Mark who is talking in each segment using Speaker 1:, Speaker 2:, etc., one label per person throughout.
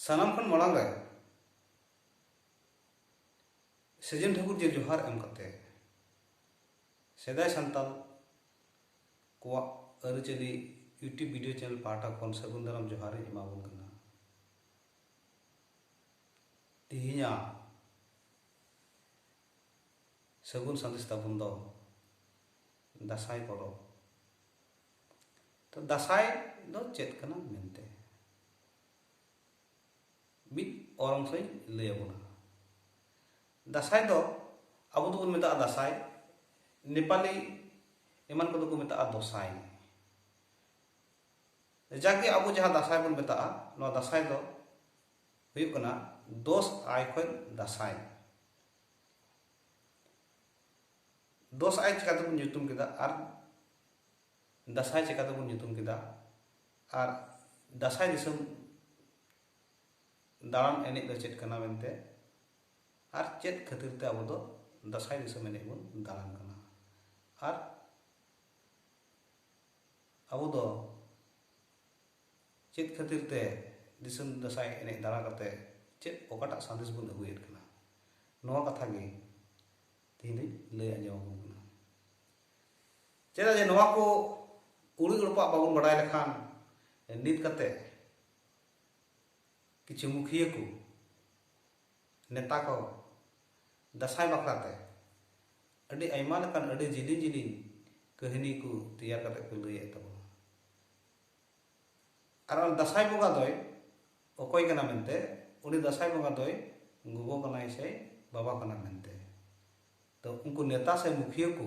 Speaker 1: ᱥᱟᱱᱟᱢ ᱠᱷᱚᱱ ᱢᱟᱲᱟᱝ ᱨᱮ ᱥᱮᱡᱮᱱ ᱴᱷᱟᱹᱠᱩᱨ ᱡᱮ ᱡᱚᱦᱟᱨ ᱮᱢ ᱠᱟᱛᱮ ᱥᱮᱫᱟᱭ ᱥᱟᱱᱛᱟᱞ ᱠᱚᱣᱟᱜ ᱟᱹᱨᱤᱪᱟᱹᱞᱤ ᱤᱭᱩᱴᱤᱭᱩᱵᱽ ᱵᱷᱤᱰᱤᱭᱳ ᱪᱮᱱᱮᱞ ᱯᱟᱦᱴᱟ ᱠᱷᱚᱱ ᱥᱟᱹᱜᱩᱱ ᱫᱟᱨᱟᱢ ᱡᱚᱦᱟᱨ ᱤᱧ ᱮᱢᱟᱵᱚᱱ ᱠᱟᱱᱟ ᱛᱮᱦᱮᱧᱟᱜ ᱥᱟᱹᱜᱩᱱ ᱥᱟᱸᱫᱮᱥ ᱛᱟᱵᱚᱱ ᱫᱚ ᱫᱟᱸᱥᱟᱭ ᱯᱚᱨᱚᱵᱽ ᱛᱚ ᱫᱟᱥᱟᱭ ᱫᱚ ᱪᱮᱫ ᱠᱟᱱᱟ ᱢᱮᱱᱛᱮ ᱢᱤᱫ ᱚᱞ ᱚᱝᱥᱚᱧ ᱞᱟᱹᱭ ᱟᱵᱚᱱᱟ ᱫᱟᱥᱟᱭ ᱫᱚ ᱟᱵᱚ ᱫᱚᱵᱚᱱ ᱢᱮᱛᱟᱜᱼᱟ ᱫᱟᱥᱟᱭ ᱱᱮᱯᱟᱞᱤ ᱮᱢᱟᱱ ᱠᱚᱫᱚ ᱠᱚ ᱢᱮᱛᱟᱜᱼᱟ ᱫᱚᱥᱟᱭ ᱡᱟᱜᱮ ᱟᱵᱚ ᱡᱟᱦᱟᱸ ᱫᱟᱥᱟᱭ ᱵᱚᱱ ᱢᱮᱛᱟᱜᱼᱟ ᱱᱚᱣᱟ ᱫᱟᱥᱟᱭ ᱫᱚ ᱦᱩᱭᱩᱜ ᱠᱟᱱᱟ ᱫᱚᱥ ᱟᱭ ᱠᱷᱚᱱ ᱫᱟᱥᱟᱭ ᱫᱚᱥ ᱟᱭ ᱪᱤᱠᱟᱹ ᱛᱮᱵᱚᱱ ᱧᱩᱛᱩᱢ ᱠᱮᱫᱟ ᱟᱨ ᱫᱟᱥᱟᱭ ᱪᱮᱠᱟᱛᱮ ᱵᱚᱱ ᱧᱩᱛᱩᱢ ᱠᱮᱫᱟ ᱟᱨ ᱫᱟᱥᱟᱭ ᱫᱤᱥᱚᱢ ᱫᱟᱬᱟᱱ ᱮᱱᱮᱡ ᱫᱚ ᱪᱮᱫ ᱠᱟᱱᱟ ᱢᱮᱱᱛᱮ ᱟᱨ ᱪᱮᱫ ᱠᱷᱟᱹᱛᱤᱨ ᱛᱮ ᱟᱵᱚ ᱫᱚ ᱫᱟᱥᱟᱭ ᱫᱤᱥᱚᱢ ᱮᱱᱮᱡ ᱵᱚᱱ ᱫᱟᱬᱟᱱ ᱠᱟᱱᱟ ᱟᱨ ᱟᱵᱚ ᱫᱚ ᱪᱮᱫ ᱠᱷᱟᱹᱛᱤᱨ ᱛᱮ ᱫᱤᱥᱚᱢ ᱫᱟᱥᱟᱭ ᱮᱱᱮᱡ ᱫᱟᱬᱟ ᱠᱟᱛᱮ ᱪᱮᱫ ᱚᱠᱟᱴᱟᱜ ᱥᱟᱸᱫᱮᱥ ᱵᱚᱱ ᱟᱹᱜᱩᱭᱮᱫ ᱠᱟᱱᱟ ᱱᱚᱣᱟ ᱠᱟᱛᱷᱟ ᱜᱮ ᱛᱮᱦᱮᱧ ᱫᱚᱧ ᱞᱟᱹᱭ ᱟᱸᱡᱚᱢ ᱟᱵᱚᱱ ᱠᱟᱱᱟ ᱪᱮᱫᱟᱜ ᱡᱮ ᱱᱚᱣᱟ ᱠᱚ ᱠᱩᱲᱤ ᱜᱚᱲᱯᱟᱜ ᱵᱟᱵᱚᱱ ᱵᱟᱰᱟᱭ ᱞᱮᱠᱷᱟᱱ ᱱᱤᱛ ᱠᱟᱛᱮ ᱠᱤᱪᱷᱩ ᱢᱩᱠᱷᱤᱭᱟᱹ ᱠᱚ ᱱᱮᱛᱟ ᱠᱚ ᱫᱟᱥᱟᱭ ᱵᱟᱠᱷᱨᱟᱛᱮ ᱟᱹᱰᱤ ᱟᱭᱢᱟ ᱞᱮᱠᱟᱱ ᱟᱹᱰᱤ ᱡᱤᱞᱤᱧ ᱡᱤᱞᱤᱧ ᱠᱟᱹᱦᱱᱤ ᱠᱚ ᱛᱮᱭᱟᱨ ᱠᱟᱛᱮ ᱠᱚ ᱞᱟᱹᱭᱮᱫ ᱛᱟᱵᱚᱱᱟ ᱟᱨ ᱚᱱᱟ ᱫᱟᱥᱟᱭ ᱵᱚᱸᱜᱟ ᱫᱚᱭ ᱚᱠᱚᱭ ᱠᱟᱱᱟ ᱢᱮᱱᱛᱮ ᱩᱱᱤ ᱫᱟᱥᱟᱭ ᱵᱚᱸᱜᱟ ᱫᱚᱭ ᱜᱚᱜᱚ ᱠᱟᱱᱟᱭ ᱥᱮ ᱵᱟᱵᱟ ᱠᱟᱱᱟ ᱢᱮᱱᱛᱮ ᱛᱚ ᱩᱱᱠᱩ ᱱᱮᱛᱟ ᱥᱮ ᱢᱩᱠᱷᱤᱭᱟᱹ ᱠᱚ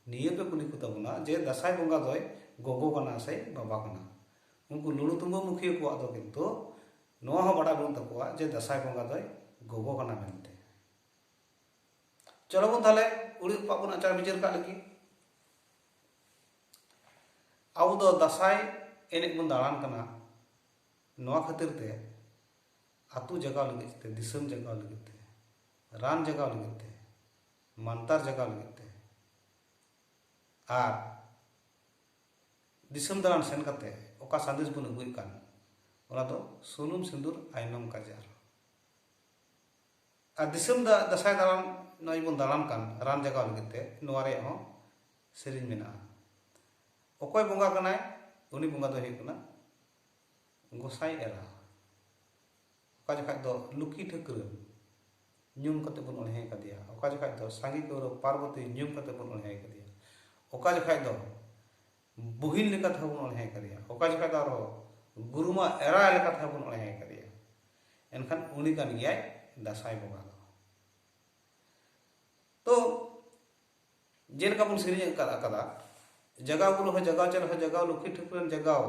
Speaker 1: ᱱᱤᱭᱟᱹ ᱯᱮ ᱠᱩᱞᱤ ᱠᱚ ᱛᱟᱵᱚᱱᱟ ᱡᱮ ᱫᱟᱥᱟᱭ ᱵᱚᱸᱜᱟ ᱫᱚᱭ ᱜᱚᱜᱚ ᱠᱟᱱᱟ ᱥᱮ ᱵᱟᱵᱟ ᱠᱟᱱᱟ ᱩᱱᱠᱩ ᱞᱩᱲᱩ ᱛᱩᱢᱵᱟᱹ ᱢᱩᱠᱷᱤᱭᱟᱹ ᱠᱚᱣᱟᱜ ᱫᱚ ᱠᱤᱱᱛᱩ ᱱᱚᱣᱟ ᱦᱚᱸ ᱵᱟᱰᱟᱭ ᱵᱟᱹᱱᱩᱜ ᱛᱟᱠᱚᱣᱟ ᱡᱮ ᱫᱟᱥᱟᱭ ᱵᱚᱸᱜᱟ ᱫᱚᱭ ᱜᱚᱜᱚ ᱠᱟᱱᱟ ᱢᱮᱱᱛᱮ ᱪᱚᱞᱚ ᱵᱚᱱ ᱛᱟᱦᱞᱮ ᱠᱩᱲᱤ ᱦᱚᱯᱚᱱ ᱵᱚᱱ ᱟᱪᱟᱨ ᱵᱤᱪᱟᱹᱨ ᱠᱟᱜ ᱞᱟᱹᱜᱤᱫ ᱟᱵᱚ ᱫᱚ ᱫᱟᱥᱟᱭ ᱮᱱᱮᱡ ᱵᱚᱱ ᱫᱟᱬᱟᱱ ᱠᱟᱱᱟ ᱱᱚᱣᱟ ᱠᱷᱟᱹᱛᱤᱨ ᱛᱮ ᱟᱛᱳ ᱡᱟᱜᱟᱣ ᱞᱟᱹᱜᱤᱫ ᱛᱮ ᱫᱤᱥᱚᱢ ᱡᱟᱜᱟᱣ ᱞᱟᱹᱜᱤᱫ ᱛᱮ ᱨᱟᱱ ᱡᱚᱜᱟᱣ ᱞᱟᱹᱜᱤᱫ ᱛᱮ ᱢᱟᱱᱛᱟᱨ ᱡᱚᱜᱟᱣ ᱞᱟᱹᱜᱤᱫ ᱛᱮ ᱟᱨ ᱫᱤᱥᱚᱢ ᱫᱟᱬᱟᱱ ᱥᱮᱱ ᱠᱟᱛᱮ ᱚᱠᱟ ᱥᱟᱸᱫᱮᱥ ᱵᱚᱱ ᱟᱹᱜᱩᱭᱮᱫ ᱠᱟᱱ ᱚᱱᱟ ᱫᱚ ᱥᱩᱱᱩᱢ ᱥᱤᱸᱫᱩᱨ ᱟᱭᱱᱚᱢ ᱠᱟᱡᱟᱨ ᱟᱨ ᱫᱤᱥᱚᱢ ᱫᱟ ᱫᱟᱥᱟᱭ ᱫᱟᱬᱟᱱ ᱱᱚᱜᱼᱚᱭ ᱵᱚᱱ ᱫᱟᱬᱟᱱ ᱠᱟᱱ ᱨᱟᱱ ᱡᱟᱜᱟᱣ ᱞᱟᱹᱜᱤᱫ ᱛᱮ ᱱᱚᱣᱟ ᱨᱮᱭᱟᱜ ᱦᱚᱸ ᱥᱮᱨᱮᱧ ᱢᱮᱱᱟᱜᱼᱟ ᱚᱠᱚᱭ ᱵᱚᱸᱜᱟ ᱠᱟᱱᱟᱭ ᱩᱱᱤ ᱵᱚᱸᱜᱟ ᱫᱚᱭ ᱦᱩᱭᱩᱜ ᱠᱟᱱᱟ ᱜᱚᱸᱥᱟᱭ ᱮᱨᱟ ᱚᱠᱟ ᱡᱚᱠᱷᱟᱡ ᱫᱚ ᱞᱩᱠᱤ ᱴᱷᱟᱹᱠᱨᱟᱹ ᱧᱩᱢ ᱠᱟᱛᱮ ᱵᱚᱱ ᱚᱬᱦᱮ ᱠᱟᱫᱮᱭᱟ ᱚᱠᱟ ᱡᱚᱠᱷᱟᱡ ᱫᱚ ᱥᱟᱸᱜᱮ ᱠᱟᱹᱣᱨᱟᱹ ᱯᱟᱨᱵᱚᱛᱤ ᱧᱩᱢ ᱠᱟᱛᱮ ᱵᱚᱱ ᱚᱬᱦᱮ ᱠᱟᱫᱮᱭᱟ ᱚᱠᱟ ᱡᱚᱠᱷᱟᱡ ᱫᱚ ᱵᱩᱦᱤᱱ ᱞᱮᱠᱟ ᱛᱮᱦᱚᱸ ᱵᱚᱱ ᱚᱬᱦᱮ ᱠᱟᱫᱮᱭᱟ ᱚᱠᱟ ᱡᱚᱠᱷᱟᱡ ᱫᱚ ᱟᱨᱦᱚᱸ ᱜᱩᱨᱩᱢᱟ ᱮᱨᱟ ᱞᱮᱠᱟ ᱛᱮᱦᱚᱸ ᱵᱚᱱ ᱚᱬᱦᱮ ᱠᱟᱫᱮᱭᱟ ᱮᱱᱠᱷᱟᱱ ᱩᱱᱤ ᱠᱟᱱ ᱜᱮᱭᱟᱭ ᱫᱟᱥᱟᱭ ᱵᱚᱸᱜᱟ ᱫᱚ ᱛᱚ ᱡᱮᱞᱮᱠᱟ ᱵᱚᱱ ᱥᱮᱨᱮᱧ ᱟᱠᱟᱫᱟ ᱡᱟᱜᱟᱣ ᱜᱩᱨᱩ ᱦᱚᱸ ᱡᱟᱜᱟᱣ ᱪᱟᱞ ᱦᱚᱸ ᱡᱟᱜᱟᱣ ᱞᱩᱠᱷᱤ ᱴᱷᱟᱹᱠᱨᱟᱹᱱ ᱡᱟᱜᱟᱣ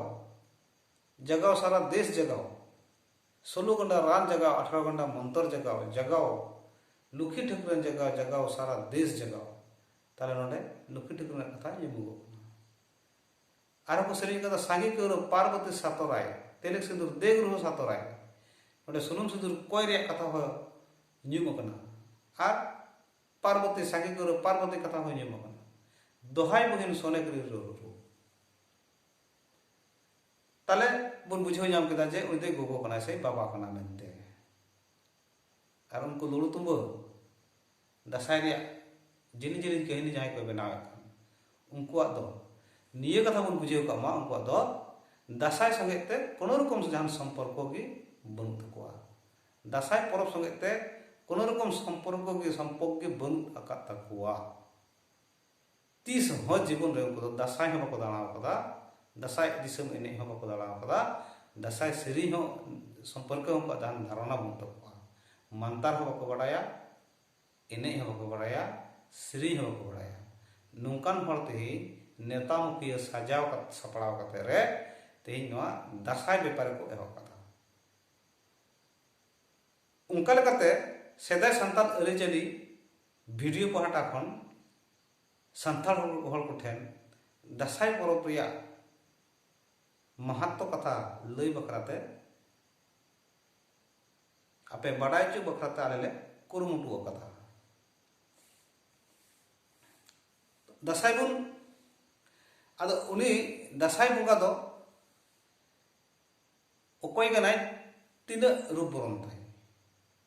Speaker 1: ᱡᱟᱜᱟᱣ ᱥᱟᱨᱟ ᱫᱮᱥ ᱡᱟᱜᱟᱣ ᱥᱳᱞᱳ ᱜᱟᱱᱰᱟ ᱨᱟᱱ ᱡᱟᱜᱟᱣ ᱟᱴᱷᱟᱨᱚ ᱜᱟᱱᱰᱟ ᱢᱚᱱᱛᱚᱨ ᱡᱟᱜᱟᱣ ᱡᱟᱜᱟᱣ ᱞᱩᱠᱷᱤ ᱴᱷᱟᱹᱠᱩᱨᱟᱱ ᱡᱟᱜᱟᱣ ᱡᱟᱜᱟᱣ ᱥᱟᱨᱟ ᱫᱮᱥ ᱡᱟᱜᱟᱣ ᱛᱟᱦᱞᱮ ᱱᱚᱰᱮ ᱞᱩᱠᱷᱤ ᱴᱷᱟᱹᱠᱩᱨ ᱨᱮᱱᱟᱜ ᱠᱟᱛᱷᱟ ᱧᱩᱢᱩᱜᱚᱜ ᱠᱟᱱᱟ ᱟᱨᱦᱚᱸ ᱠᱚ ᱥᱮᱨᱮᱧ ᱠᱟᱫᱟ ᱥᱟᱸᱜᱮ ᱠᱟᱹᱣᱨᱟᱹ ᱯᱟᱨᱵᱚᱛᱤ ᱥᱟᱛᱚᱨᱟᱭ ᱛᱮᱞᱮᱠ ᱥᱤᱸᱫᱩᱨ ᱫᱮᱜ ᱨᱩᱦᱚ ᱥᱟᱛᱚᱨᱟᱭ ᱱᱚᱰᱮ ᱥᱩᱱᱩᱢ ᱥᱤᱸᱫᱩᱨ ᱠᱚᱭ ᱨᱮᱭᱟᱜ ᱠᱟᱛᱷᱟ ᱦᱚᱸ ᱧᱩᱢ ᱟᱠᱟᱱᱟ ᱟᱨ ᱯᱟᱨᱵᱚᱛᱤ ᱥᱟᱸᱜᱮ ᱠᱟᱹᱣᱨᱟᱹ ᱯᱟᱨᱵᱚᱛᱤ ᱠᱟᱛᱷᱟ ᱦᱚᱸ ᱧᱩᱢ ᱟᱠᱟᱱᱟ ᱫᱚᱦᱟᱭ ᱵᱩᱦᱤᱱ ᱥᱚᱱᱮ ᱠᱨᱤ ᱨᱩᱦᱚ ᱛᱟᱦᱞᱮ ᱵᱚᱱ ᱵᱩᱡᱷᱟᱹᱣ ᱧᱟᱢ ᱠᱮᱫᱟ ᱡᱮ ᱩᱱᱤ ᱫᱚᱭ ᱜᱚᱜᱚ ᱠᱟᱱᱟᱭ ᱥᱮ ᱵᱟᱵᱟ ᱠᱟᱱᱟ ᱢᱮᱱᱛᱮ ᱟᱨ ᱩᱱᱠᱩ ᱞᱩᱲᱩ ᱛᱩᱢᱵᱟᱹ ᱫᱟᱸᱥᱟᱭ ᱨᱮᱭᱟᱜ ᱡᱤᱞᱤᱧ ᱡᱤᱞᱤᱧ ᱠᱟᱹᱦᱱᱤ ᱡᱟᱦᱟᱸᱭ ᱠᱚ ᱵᱮᱱᱟᱣᱮᱫ ᱠᱟᱱ ᱩᱱᱠᱩᱣᱟᱜ ᱫᱚ ᱱᱤᱭᱟᱹ ᱠᱟᱛᱷᱟ ᱵᱚᱱ ᱵᱩᱡᱷᱟᱹᱣ ᱠᱟᱜ ᱢᱟ ᱩᱱᱠᱩᱣᱟᱜ ᱫᱚ ᱫᱟᱸᱥᱟᱭ ᱥᱚᱸᱜᱮ ᱛᱮ ᱠᱳᱱᱳ ᱨᱚᱠᱚᱢ ᱡᱟᱦᱟᱱ ᱥᱚᱢᱯᱚᱨᱠᱚ ᱜᱮ ᱵᱟᱹᱱᱩᱜ ᱛᱟᱠᱚᱣᱟ ᱫᱟᱸᱥᱟᱭ ᱯᱚᱨᱚᱵᱽ ᱥᱚᱸᱜᱮ ᱛᱮ ᱠᱳᱱᱳ ᱨᱚᱠᱚᱢ ᱥᱚᱢᱯᱚᱨᱠᱚ ᱜᱮ ᱥᱚᱢᱯᱚᱨᱠ ᱜᱮ ᱵᱟᱹᱱᱩᱜ ᱟᱠᱟᱫ ᱛᱟᱠᱚᱣᱟ ᱛᱤᱥ ᱦᱚᱸ ᱡᱤᱵᱚᱱ ᱨᱮ ᱩᱱᱠᱩ ᱫᱚ ᱫᱟᱥᱟᱭ ᱦᱚᱸ ᱵᱟᱠᱚ ᱫᱟᱬᱟ ᱟᱠᱟᱫᱟ ᱫᱟᱥᱟᱭ ᱫᱤᱥᱚᱢ ᱮᱱᱮᱡ ᱦᱚᱸ ᱵᱟᱠᱚ ᱫᱟᱬᱟ ᱟᱠᱟᱫᱟ ᱫᱟᱥᱟᱭ ᱥᱮᱨᱮᱧ ᱦᱚᱸ ᱥᱚᱢᱯᱚᱨᱠᱮ ᱦᱚᱸ ᱩᱱᱠᱩᱣᱟᱜ ᱫᱷᱟᱱ ᱫᱷᱟᱨᱚᱱᱟ ᱵᱟᱹᱱᱩᱜ ᱛᱟᱠᱚᱣᱟ ᱢᱟᱱᱛᱟᱨ ᱦᱚᱸ ᱵᱟᱠᱚ ᱵᱟᱰᱟᱭᱟ ᱮᱱᱮᱡ ᱦᱚᱸ ᱵᱟᱠᱚ ᱵᱟᱰᱟᱭᱟ ᱥᱮᱨᱮᱧ ᱦᱚᱸ ᱵᱟᱠᱚ ᱵᱟᱰᱟᱭᱟ ᱱᱚᱝᱠᱟᱱ ᱦᱚᱲ ᱛᱮᱦᱮᱧ ᱱᱮᱛᱟ ᱢᱩᱠᱷᱤᱭᱟᱹ ᱥᱟᱡᱟᱣ ᱥᱟᱯᱲᱟᱣ ᱠᱟᱛᱮ ᱨᱮ ᱛᱮᱦᱮᱧ ᱱᱚᱣᱟ ᱫᱟᱥᱟᱭ ᱵᱮᱯᱟᱨ ᱠᱚ ᱮᱦᱚᱵ ᱠᱟᱫᱟ ᱚᱱᱠᱟ ᱞᱮᱠᱟᱛᱮ ᱥᱮᱫᱟᱭ ᱥᱟᱱᱛᱟᱲ ᱟᱹᱨᱤᱪᱟᱹᱞᱤ ᱵᱷᱤᱰᱤᱭᱳ ᱯᱟᱦᱴᱟ ᱠᱷᱚᱱ ᱥᱟᱱᱛᱟᱲ ᱦᱚᱲ ᱠᱚᱴᱷᱮᱱ ᱫᱟᱸᱥᱟᱭ ᱯᱚᱨᱚᱵᱽ ᱨᱮᱭᱟᱜ ᱢᱟᱦᱟᱛᱛᱚ ᱠᱟᱛᱷᱟ ᱞᱟᱹᱭ ᱵᱟᱠᱷᱨᱟᱛᱮ ᱟᱯᱮ ᱵᱟᱰᱟᱭ ᱦᱚᱪᱚ ᱵᱟᱠᱷᱨᱟᱛᱮ ᱟᱞᱮ ᱞᱮ ᱠᱩᱨᱩᱢᱩᱴᱩ ᱟᱠᱟᱫᱟ ᱫᱟᱸᱥᱟᱭ ᱵᱚᱱ ᱟᱫᱚ ᱩᱱᱤ ᱫᱟᱸᱥᱟᱭ ᱵᱚᱸᱜᱟ ᱫᱚ ᱚᱠᱚᱭ ᱠᱟᱱᱟᱭ ᱛᱤᱱᱟᱹᱜ ᱨᱩᱯ ᱵᱚᱨᱚᱱ ᱛᱟᱭ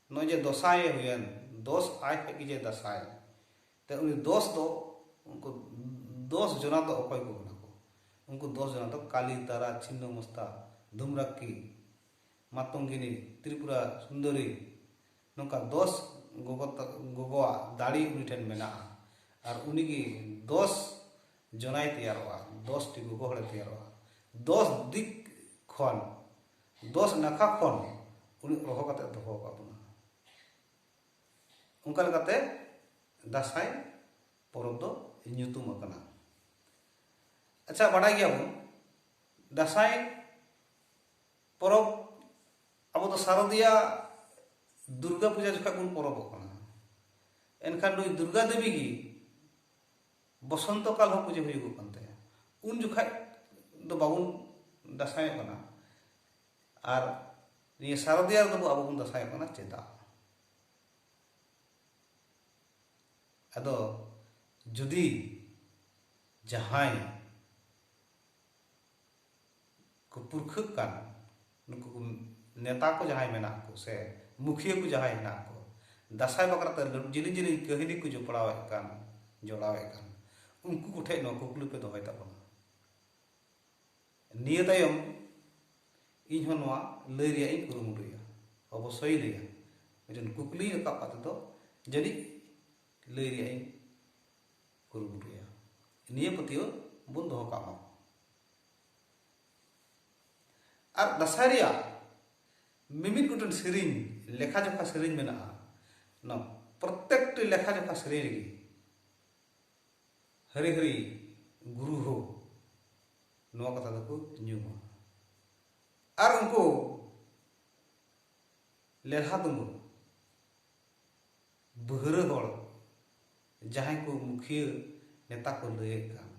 Speaker 1: ᱱᱚᱜᱼᱚᱭ ᱡᱮ ᱫᱚᱥᱟᱭ ᱮ ᱦᱩᱭᱮᱱ ᱫᱚᱥ ᱟᱡ ᱦᱮᱡ ᱜᱮ ᱡᱮ ᱫᱟᱥᱟᱭ ᱛᱮ ᱩᱱᱤ ᱫᱚᱥ ᱫᱚ ᱩᱱᱠᱩ ᱫᱚᱥ ᱡᱚᱱᱟ ᱫᱚ ᱚᱠᱚᱭ ᱠᱚ ᱠᱟᱱᱟ ᱠᱚ ᱩᱱᱠᱩ ᱫᱚᱥ ᱡᱚᱱᱟ ᱫᱚ ᱠᱟᱞᱤ ᱛᱟᱨᱟ ᱪᱷᱤᱱᱱᱚ ᱢᱚᱥᱛᱟ ᱫᱷᱩᱢᱨᱟᱠᱠᱤ ᱢᱟᱛᱚᱝᱜᱤᱱᱤ ᱛᱨᱤᱯᱩᱨᱟ ᱥᱩᱱᱫᱚᱨᱤ ᱱᱚᱝᱠᱟ ᱫᱚᱥ ᱜᱚᱜᱚ ᱜᱚᱜᱚᱣᱟᱜ ᱫᱟᱲᱮ ᱩᱱᱤ ᱴᱷᱮᱱ ᱢᱮᱱᱟᱜᱼᱟ ᱟᱨ ᱩᱱᱤ ᱜᱮ ᱫᱚᱥ ᱡᱚᱱᱟᱭ ᱛᱮᱭᱟᱨᱚᱜᱼᱟ ᱫᱚᱥ ᱴᱤ ᱜᱚᱜᱚ ᱦᱚᱲᱮ ᱛᱮᱭᱟᱨᱚᱜᱼᱟ ᱫᱚᱥ ᱫᱤᱠ ᱠᱷᱚᱱ ᱫᱚᱥ ᱱᱟᱠᱷᱟ ᱠᱷᱚᱱ ᱩᱱᱤ ᱚᱦᱚ ᱠᱟᱛᱮ ᱫᱚᱦᱚ ᱟᱠᱟᱫ ᱵᱚᱱᱟ ᱚᱱᱠᱟ ᱞᱮᱠᱟᱛᱮ ᱫᱟᱸᱥᱟᱭ ᱯᱚᱨᱚᱵᱽ ᱫᱚ ᱧᱩᱛᱩᱢ ᱟᱠᱟᱱᱟ ᱟᱪᱪᱷᱟ ᱵᱟᱰᱟᱭ ᱜᱮᱭᱟᱵᱚᱱ ᱫᱟᱸᱥᱟᱭ ᱯᱚᱨᱚᱵᱽ ᱟᱵᱚ ᱫᱚ ᱥᱟᱨᱚᱫᱤᱭᱟ ᱫᱩᱨᱜᱟ ᱯᱩᱡᱟ ᱡᱚᱠᱷᱟᱡ ᱵᱚᱱ ᱯᱚᱨᱚᱵᱚᱜ ᱠᱟᱱᱟ ᱮᱱᱠᱷᱟᱱ ᱱᱩᱭ ᱫᱩᱨᱜᱟ ᱫᱮᱵᱤ ᱜᱮ ᱵᱚᱥᱚᱱᱛᱚ ᱠᱟᱞ ᱦᱚᱸ ᱯᱩᱡᱟᱹ ᱦᱩᱭᱩᱜᱚᱜ ᱠᱟᱱ ᱛᱟᱭᱟ ᱩᱱ ᱡᱚᱠᱷᱟᱡ ᱫᱚ ᱵᱟᱵᱚᱱ ᱫᱟᱥᱟᱭᱚᱜ ᱠᱟᱱᱟ ᱟᱨ ᱱᱤᱭᱟᱹ ᱥᱟᱨᱚᱫᱤᱭᱟ ᱨᱮᱫᱚ ᱟᱵᱚ ᱵᱚᱱ ᱫᱟᱥᱟᱭᱚᱜ ᱠᱟᱱᱟ ᱪᱮᱫᱟᱜ ᱟᱫᱚ ᱡᱩᱫᱤ ᱡᱟᱦᱟᱸᱭ ᱠᱚ ᱯᱩᱨᱠᱷᱟᱹᱜ ᱠᱟᱱ ᱱᱩᱠᱩ ᱠᱚ ᱱᱮᱛᱟ ᱠᱚ ᱡᱟᱦᱟᱸᱭ ᱢᱮᱱᱟᱜ ᱠᱚ ᱥᱮ ᱢᱩᱠᱷᱤᱭᱟᱹ ᱠᱚ ᱡᱟᱦᱟᱸᱭ ᱦᱮᱱᱟᱜ ᱠᱚ ᱫᱟᱥᱟᱭ ᱵᱟᱠᱷᱨᱟᱛᱮ ᱡᱤᱞᱤᱧ ᱡᱤᱞᱤᱧ ᱠᱟᱹᱦᱱᱤ ᱠᱚ ᱡᱚᱯᱲᱟᱣᱮᱫ ᱠᱟᱱ ᱡᱚᱲᱟᱣᱮᱫ ᱠᱟᱱ ᱩᱱᱠᱩ ᱠᱚᱴᱷᱮᱱ ᱱᱚᱣᱟ ᱠᱩᱠᱞᱤ ᱯᱮ ᱫᱚᱦᱚᱭ ᱛᱟᱵᱚᱱᱟ ᱱᱤᱭᱟᱹ ᱛᱟᱭᱚᱢ ᱤᱧ ᱦᱚᱸ ᱱᱚᱣᱟ ᱞᱟᱹᱭ ᱨᱮᱭᱟᱜ ᱤᱧ ᱠᱩᱨᱩᱢᱩᱴᱩᱭᱟ ᱚᱵᱚᱥᱥᱳᱭ ᱞᱟᱹᱭᱟ ᱢᱤᱫᱴᱮᱱ ᱠᱩᱠᱞᱤ ᱨᱟᱠᱟᱵ ᱠᱟᱛᱮ ᱫᱚ ᱡᱟᱹᱱᱤᱡ ᱞᱟᱹᱭ ᱨᱮᱭᱟᱜ ᱤᱧ ᱠᱩᱨᱩᱢᱩᱴᱩᱭᱟ ᱱᱤᱭᱟᱹ ᱯᱟᱹᱛᱭᱟᱹᱣ ᱵᱚᱱ ᱫᱚᱦᱚ ᱠᱟᱜ ᱢᱟ ᱟᱨ ᱫᱟᱸᱥᱟᱭ ᱨᱮᱭᱟᱜ ᱢᱤᱢᱤᱫ ᱜᱚᱴᱮᱱ ᱥᱮᱨᱮᱧ ᱞᱮᱠᱷᱟ ᱡᱚᱠᱷᱟ ᱥᱮᱨᱮᱧ ᱢᱮᱱᱟᱜᱼᱟ ᱚᱱᱟ ᱯᱨᱚᱛᱮᱠᱴᱤ ᱞᱮᱠᱷᱟ ᱡᱚᱠᱷᱟ ᱥᱮᱨᱮᱧ ᱨᱮᱜᱮ ᱦᱟᱹᱨᱤ ᱦᱟᱹᱨᱤ ᱜᱩᱨᱩ ᱦᱳ ᱱᱚᱣᱟ ᱠᱟᱛᱷᱟ ᱫᱚᱠᱚ ᱧᱩᱢᱟ ᱟᱨ ᱩᱱᱠᱩ ᱞᱮᱞᱦᱟ ᱫᱩᱢᱩᱨ ᱵᱟᱹᱦᱨᱟᱹ ᱦᱚᱲ ᱡᱟᱦᱟᱸᱭ ᱠᱚ ᱢᱩᱠᱷᱤᱭᱟᱹ ᱱᱮᱛᱟ ᱠᱚ ᱞᱟᱹᱭᱮᱫ ᱠᱟᱱ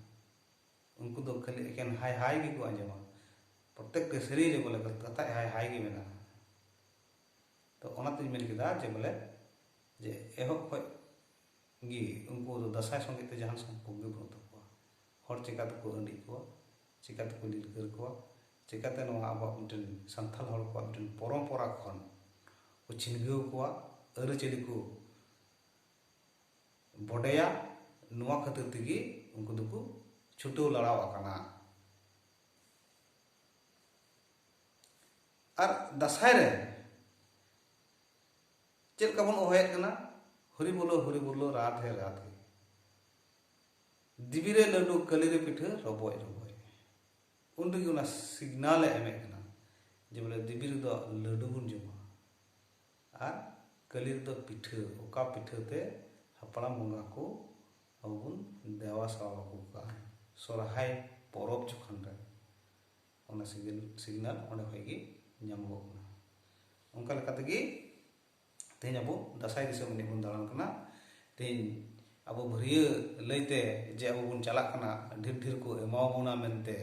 Speaker 1: ᱩᱱᱠᱩ ᱫᱚ ᱠᱷᱟᱹᱞᱤ ᱮᱠᱮᱱ ᱦᱟᱭ ᱦᱟᱭ ᱜᱮᱠᱚ ᱟᱸᱡᱚᱢᱟ ᱯᱨᱚᱛᱮᱠ ᱴᱤ ᱥᱮᱨᱮᱧ ᱨᱮ ᱵᱚᱞᱮ ᱠᱟᱛᱷᱟ ᱦᱟᱭ ᱦᱟᱭ ᱜᱮ ᱢᱮᱱᱟᱜᱼᱟ ᱛᱚ ᱚᱱᱟᱛᱤᱧ ᱢᱮᱱ ᱠᱮᱫᱟ ᱡᱮ ᱵᱚᱞᱮ ᱡᱮ ᱮᱦᱚᱵ ᱠᱷᱚᱡ ᱜᱮ ᱩᱱᱠᱩ ᱫᱚ ᱫᱟᱸᱥᱟᱭ ᱥᱚᱸᱜᱮ ᱛᱮ ᱡᱟᱦᱟᱱ ᱥᱚᱢᱯᱚᱨᱠ ᱜᱮ ᱵᱟᱹᱱᱩᱜ ᱛᱟᱠᱚᱣᱟ ᱦᱚᱲ ᱪᱮᱠᱟ ᱛᱮᱠᱚ ᱟᱹᱰᱤᱡ ᱠᱚᱣᱟ ᱪᱮᱠᱟ ᱛᱮᱠᱚ ᱞᱤᱞᱠᱟᱹᱨ ᱠᱚᱣᱟ ᱪᱮᱠᱟᱛᱮ ᱱᱚᱣᱟ ᱟᱵᱚᱣᱟᱜ ᱢᱤᱫᱴᱮᱱ ᱥᱟᱱᱛᱟᱞ ᱦᱚᱲ ᱠᱚᱣᱟᱜ ᱢᱤᱫᱴᱮᱱ ᱯᱚᱨᱚᱢᱯᱚᱨᱟ ᱠᱷᱚᱱ ᱠᱚ ᱪᱷᱤᱱᱜᱟᱹᱣ ᱠᱚᱣᱟ ᱟᱹᱨᱤᱪᱟᱹᱞᱤ ᱠᱚ ᱵᱚᱰᱮᱭᱟ ᱱᱚᱣᱟ ᱠᱷᱟᱹᱛᱤᱨ ᱛᱮᱜᱮ ᱩᱱᱠᱩ ᱫᱚᱠᱚ ᱪᱷᱩᱴᱟᱹᱣ ᱞᱟᱲᱟᱣ ᱟᱠᱟᱱᱟ ᱟᱨ ᱫᱟᱸᱥᱟᱭ ᱨᱮ ᱪᱮᱫ ᱞᱮᱠᱟ ᱵᱚᱱ ᱚᱦᱚᱭᱮᱫ ᱠᱟᱱᱟ ᱦᱚᱨᱤ ᱵᱚᱞᱚ ᱦᱚᱨᱤ ᱵᱚᱞᱚ ᱨᱟᱫᱷᱮ ᱨᱟᱫᱷᱮ ᱫᱤᱵᱤ ᱨᱮ ᱞᱟᱹᱰᱩ ᱠᱟᱹᱞᱤ ᱨᱮ ᱯᱤᱴᱷᱟᱹ ᱨᱚᱵᱚᱡ ᱨᱚᱵᱚᱡ ᱩᱱ ᱨᱮᱜᱮ ᱚᱱᱟ ᱥᱤᱜᱽᱱᱟᱞᱮ ᱮᱢᱮᱫ ᱠᱟᱱᱟ ᱡᱮ ᱵᱚᱞᱮ ᱫᱮᱵᱤ ᱨᱮᱫᱚ ᱞᱟᱹᱰᱩ ᱵᱚᱱ ᱡᱚᱢᱟ ᱟᱨ ᱠᱟᱹᱞᱤ ᱨᱮᱫᱚ ᱯᱤᱴᱷᱟᱹ ᱚᱠᱟ ᱯᱤᱴᱷᱟᱹ ᱛᱮ ᱦᱟᱯᱲᱟᱢ ᱵᱚᱸᱜᱟ ᱠᱚ ᱟᱵᱚ ᱵᱚᱱ ᱫᱮᱣᱟ ᱥᱟᱣᱟ ᱟᱹᱜᱩ ᱠᱟᱜᱼᱟ ᱥᱚᱨᱦᱟᱭ ᱯᱚᱨᱚᱵᱽ ᱡᱚᱠᱷᱚᱱ ᱨᱮ ᱚᱱᱟ ᱥᱤᱜᱽᱱᱟᱞ ᱚᱸᱰᱮ ᱠᱷᱚᱱ ᱜᱮ ᱧᱟᱢᱚᱜᱚᱜ ᱠᱟᱱᱟ ᱚᱱᱠᱟ ᱞᱮᱠᱟ ᱛᱮᱜᱮ ᱛᱮᱦᱮᱧ ᱟᱵᱚ ᱫᱟᱥᱟᱭ ᱫᱤᱥᱚᱢ ᱮᱱᱮᱡ ᱵᱚᱱ ᱫᱟᱬᱟᱱ ᱠᱟᱱᱟ ᱛᱮᱦᱮᱧ ᱟᱵᱚ ᱵᱷᱟᱹᱨᱭᱟᱹ ᱞᱟᱹᱭᱛᱮ ᱡᱮ ᱟᱵᱚ ᱵᱚᱱ ᱪᱟᱞᱟᱜ ᱠᱟᱱᱟ ᱰᱷᱮᱨ ᱰᱷᱮᱨ ᱠᱚ ᱮᱢᱟᱵᱚᱱᱟ ᱢᱮᱱᱛᱮ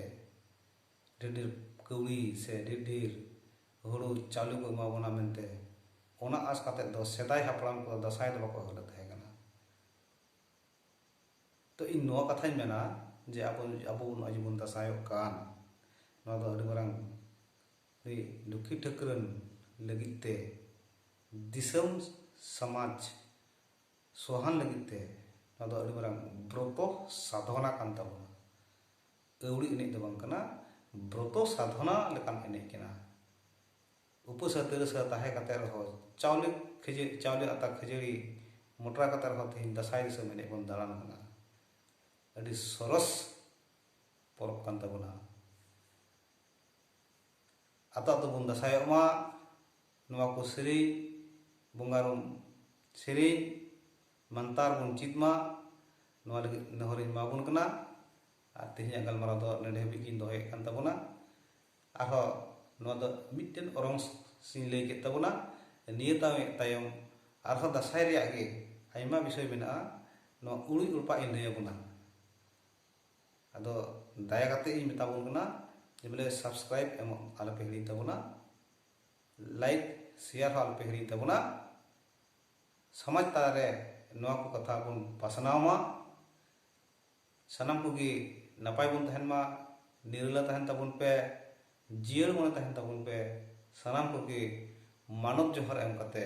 Speaker 1: ᱰᱷᱮᱨ ᱰᱷᱮᱨ ᱠᱟᱹᱣᱰᱤ ᱥᱮ ᱰᱷᱮᱨ ᱰᱷᱮᱨ ᱦᱩᱲᱩ ᱪᱟᱣᱞᱮ ᱠᱚ ᱮᱢᱟᱵᱚᱱᱟ ᱢᱮᱱᱛᱮ ᱚᱱᱟ ᱟᱥ ᱠᱟᱛᱮ ᱫᱚ ᱥᱮᱫᱟᱭ ᱦᱟᱯᱲᱟᱢ ᱠᱚ ᱫᱟᱥᱟᱭ ᱫᱚ ᱵᱟᱠᱚ ᱮᱦᱚᱵ ᱛᱟᱦᱮᱸ ᱠᱟᱱᱟ ᱛᱚ ᱤᱧ ᱱᱚᱣᱟ ᱠᱟᱛᱷᱟᱧ ᱢᱮᱱᱟ ᱡᱮ ᱟᱵᱚ ᱟᱵᱚ ᱱᱚᱜᱼᱚᱭ ᱡᱮᱵᱚᱱ ᱫᱟᱥᱟᱭᱚᱜ ᱠᱟᱱ ᱱᱚᱣᱟ ᱫᱚ ᱟᱹᱰᱤ ᱢᱟᱨᱟᱝ ᱨᱤ ᱞᱩᱠᱷᱤ ᱴᱷᱟᱹᱠᱨᱟᱹᱱ ᱞᱟᱹᱜᱤᱫ ᱛᱮ ᱫᱤᱥᱟᱹᱢ ᱥᱟᱢᱟᱡᱽ ᱥᱚᱦᱟᱱ ᱞᱟᱹᱜᱤᱫ ᱛᱮ ᱱᱚᱣᱟ ᱫᱚ ᱟᱹᱰᱤ ᱢᱟᱨᱟᱝ ᱵᱨᱚᱛᱚ ᱥᱟᱫᱷᱚᱱᱟ ᱠᱟᱱ ᱛᱟᱵᱚᱱᱟ ᱟᱹᱣᱲᱤ ᱮᱱᱮᱡ ᱫᱚ ᱵᱟᱝ ᱠᱟᱱᱟ ᱵᱨᱚᱛᱚ ᱥᱟᱫᱷᱚᱱᱟ ᱞᱮᱠᱟᱱ ᱮᱱᱮᱡ ᱠᱟᱱᱟ ᱩᱯᱟᱹᱥᱟ ᱛᱤᱨᱟᱹᱥᱟ ᱛᱟᱦᱮᱸ ᱠᱟᱛᱮ ᱨᱮᱦᱚᱸ ᱪᱟᱣᱞᱮ ᱠᱷᱟᱹᱡᱟᱹ ᱪᱟᱣᱞᱮ ᱟᱛᱟ ᱠᱷᱟᱹᱡᱟᱹᱲᱤ ᱢᱚᱴᱨᱟ ᱠᱟᱛᱮ ᱨᱮᱦᱚᱸ ᱛᱮᱦᱮᱧ ᱫᱟᱥᱟᱭ ᱫᱤᱥᱚᱢ ᱮᱱᱮᱡ ᱵᱚᱱ ᱫᱟᱬᱟᱱ ᱠᱟᱱᱟ ᱟᱹᱰᱤ ᱥᱚᱨᱚᱥ ᱯᱚᱨᱚᱵᱽ ᱠᱟᱱ ᱛᱟᱵᱚᱱᱟ ᱟᱛᱳ ᱟᱛᱳ ᱵᱚᱱ ᱫᱟᱸᱥᱟᱭᱚᱜ ᱢᱟ ᱱᱚᱣᱟ ᱠᱚ ᱥᱮᱨᱮᱧ ᱵᱚᱸᱜᱟ ᱨᱩᱢ ᱥᱮᱨᱮᱧ ᱢᱟᱱᱛᱟᱨ ᱵᱚᱱ ᱪᱮᱫ ᱢᱟ ᱱᱚᱣᱟ ᱞᱟᱹᱜᱤᱫ ᱱᱮᱦᱚᱨᱤᱧ ᱮᱢᱟᱵᱚᱱ ᱠᱟᱱᱟ ᱟᱨ ᱛᱮᱦᱮᱧᱟᱜ ᱜᱟᱞᱢᱟᱨᱟᱣ ᱫᱚ ᱱᱚᱰᱮ ᱦᱟᱹᱵᱤᱡ ᱜᱤᱧ ᱫᱚᱦᱚᱭᱮᱫ ᱠᱟᱱ ᱛᱟᱵᱚᱱᱟ ᱟᱨᱦᱚᱸ ᱱᱚᱣᱟ ᱫᱚ ᱢᱤᱫᱴᱮᱱ ᱚᱨᱚᱝ ᱥᱤᱧ ᱞᱟᱹᱭ ᱠᱮᱫ ᱛᱟᱵᱚᱱᱟ ᱱᱤᱭᱟᱹ ᱛᱟᱭᱚᱢ ᱟᱨᱦᱚᱸ ᱫᱟᱸᱥᱟᱭ ᱨᱮᱭᱟᱜ ᱜᱮ ᱟᱭᱢᱟ ᱵᱤᱥᱚᱭ ᱢᱮᱱᱟᱜᱼᱟ ᱱᱚᱣᱟ ᱩᱲᱩᱡ ᱨᱚᱯᱟᱜ ᱤᱧ ᱞᱟᱹᱭ ᱟᱵᱚᱱᱟ ᱟᱫᱚ ᱫᱟᱭᱟ ᱠᱟᱛᱮ ᱤᱧ ᱢᱮᱛᱟ ᱵᱚᱱ ᱠᱟᱱᱟ ᱡᱮ ᱵᱚᱞᱮ ᱥᱟᱵᱥᱠᱨᱟᱭᱤᱵ ᱮᱢ ᱟᱞᱚ ᱯᱮ ᱦᱤᱲᱤᱧ ᱛᱟᱵᱚᱱᱟ ᱞᱟᱭᱤᱠ ᱥᱮᱭᱟᱨ ᱦᱚᱸ ᱟᱞᱚ ᱯᱮ ᱦᱤᱲᱤᱧ ᱛᱟᱵᱚᱱᱟ ᱥᱚᱢᱟᱡᱽ ᱛᱟᱞᱟᱨᱮ ᱱᱚᱣᱟ ᱠᱚ ᱠᱟᱛᱷᱟ ᱵᱚᱱ ᱯᱟᱥᱱᱟᱣ ᱢᱟ ᱥᱟᱱᱟᱢ ᱠᱚᱜᱮ ᱱᱟᱯᱟᱭ ᱵᱚᱱ ᱛᱟᱦᱮᱱ ᱢᱟ ᱱᱤᱨᱞᱟ ᱛᱟᱦᱮᱱ ᱛᱟᱵᱚᱱ ᱯᱮ ᱡᱤᱭᱟᱹᱲ ᱢᱚᱱᱮ ᱛᱟᱦᱮᱱ ᱛᱟᱵᱚᱱ ᱯᱮ ᱥᱟᱱᱟᱢ ᱠᱚᱜᱮ ᱢᱟᱱᱚᱛ ᱡᱚᱦᱟᱨ ᱮᱢ ᱠᱟᱛᱮ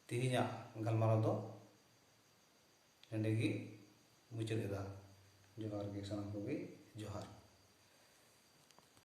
Speaker 1: ᱛᱮᱦᱮᱧᱟᱜ ᱜᱟᱞᱢᱟᱨᱟᱣ ᱫᱚ ᱱᱚᱸᱰᱮ ᱜᱮ ᱢᱩᱪᱟᱹᱫ ᱮᱫᱟ ᱡᱚᱦᱟᱨ ᱜᱮ ᱥᱟᱱᱟᱢ ᱠᱚᱜᱮ ᱡᱚᱦᱟᱨ